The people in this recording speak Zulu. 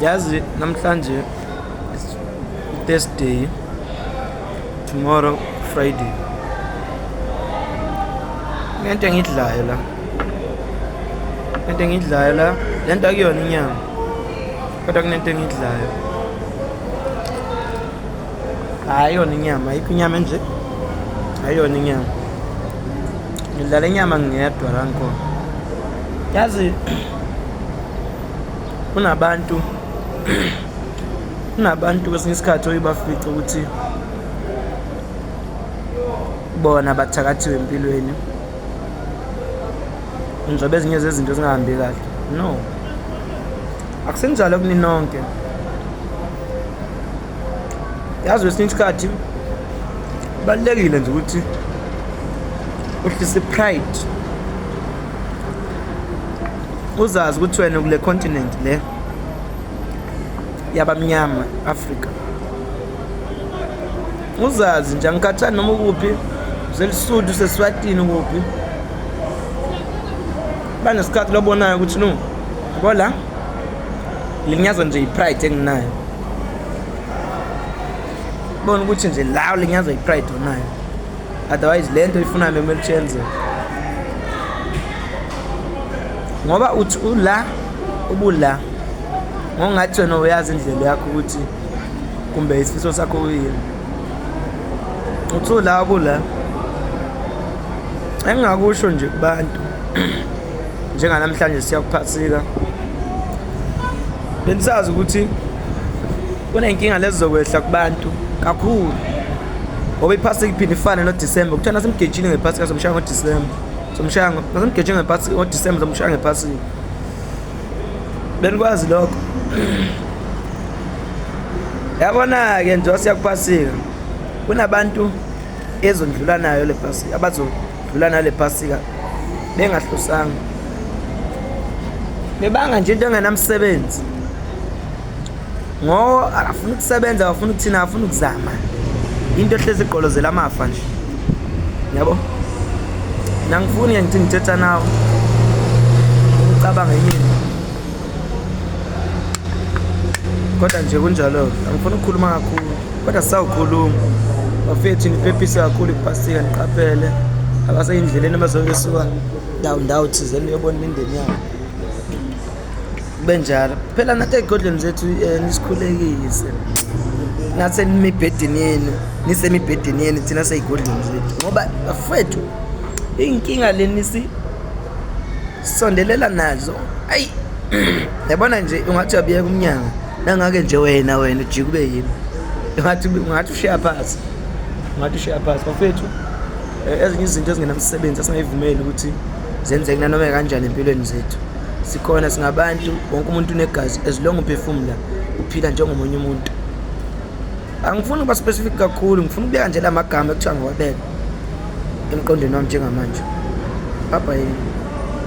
yazi namhlanje thursday tomorrow friday lento engidlayo la lento engidlayo la lento akuyona inyama kodwa kunento engidlayo hayi yona inyama ayikho inyama enje hayi yona inyama ngidlala inyama ngingedwa la ngikhona yazi kunabantu kunabantu kwesinye isikhathi oye bafice ukuthi bona bathakathiwe empilweni njengoba ezinye zezinto zingahambi kahle no akusenjalo kuninonke yazi kwesinye isikhathi kubalulekile nje ukuthi uhlise pride uzazi ukuthi wena kule continent le yabamnyama africa uzazi nje angikhathani noma ukuphi uselisuthu useswatini kuphi banesikhathi lobonayo ukuthi no kola linyazwa nje yipride enginayo bona ukuthi nje lawo linyazwa yipride onayo otherwise le nto ifuna meme lichenze ngoba uthi ula ubula ngongathi wena uyazi indlela yakho ukuthi kumbe isifiso sakho uyini uthi ula ubula engingakusho nje kubantu njenganamhlanje siyakuphasika bendisazi ukuthi kuney'nkinga lezi zokwehla kubantu kakhulu ngoba iphasi kuphinde ifane nodisemba kuthiwa nasemgejini ngephasi kasomshaya ngodisemba somshaya nasemgejini ngephasi ngodisemba somshaya ngephasini benikwazi lokho yabona-ke nje wasiyakuphasika kunabantu ezondlula nayo le phasika abazodlula nayo le phasika bengahlosanga bebanga nje into engenamsebenzi ngoba akafuni ukusebenza akafuni ukuthina akafuni ukuzama into ehlezi igqolozela amafa nje yabo nangifuni ngithi ngithetha nawe ucabanga yini kodwa nje kunjalo angifuni ukukhuluma kakhulu kodwa sisawukhuluma bafethu niphephise kakhulu ipastika niqaphele abaseyindleleni abazoke suka ndawo ndawo thizeni uyobona imindeni yabo kube njalo phela nathi ey'godlweni zethu um eh, nisikhulekise nathi senimibhedeni yenu nisemibhedeni yenu thina sey'godlweni zethu ngoba bafethu iy'nkinga leni sisondelela nazo ayi yabona nje ungathi uyabuyeka umnyanga nangake nje wena wena ujike ube yimi ungathi ungathi ushiya phansi ungathi ushiya phansi bafethu eh, ezinye izinto ezingenamsebenzi asingayivumeli ukuthi zenzeke nanoma kanjani empilweni zethu sikhona singabantu wonke umuntu unegazi as long uphefumula uphila njengomunye umuntu angifuni ukuba specific kakhulu ngifuna ukubeka nje la magama ekuthiwa ngiwabeka emqondweni wami njengamanje baba yini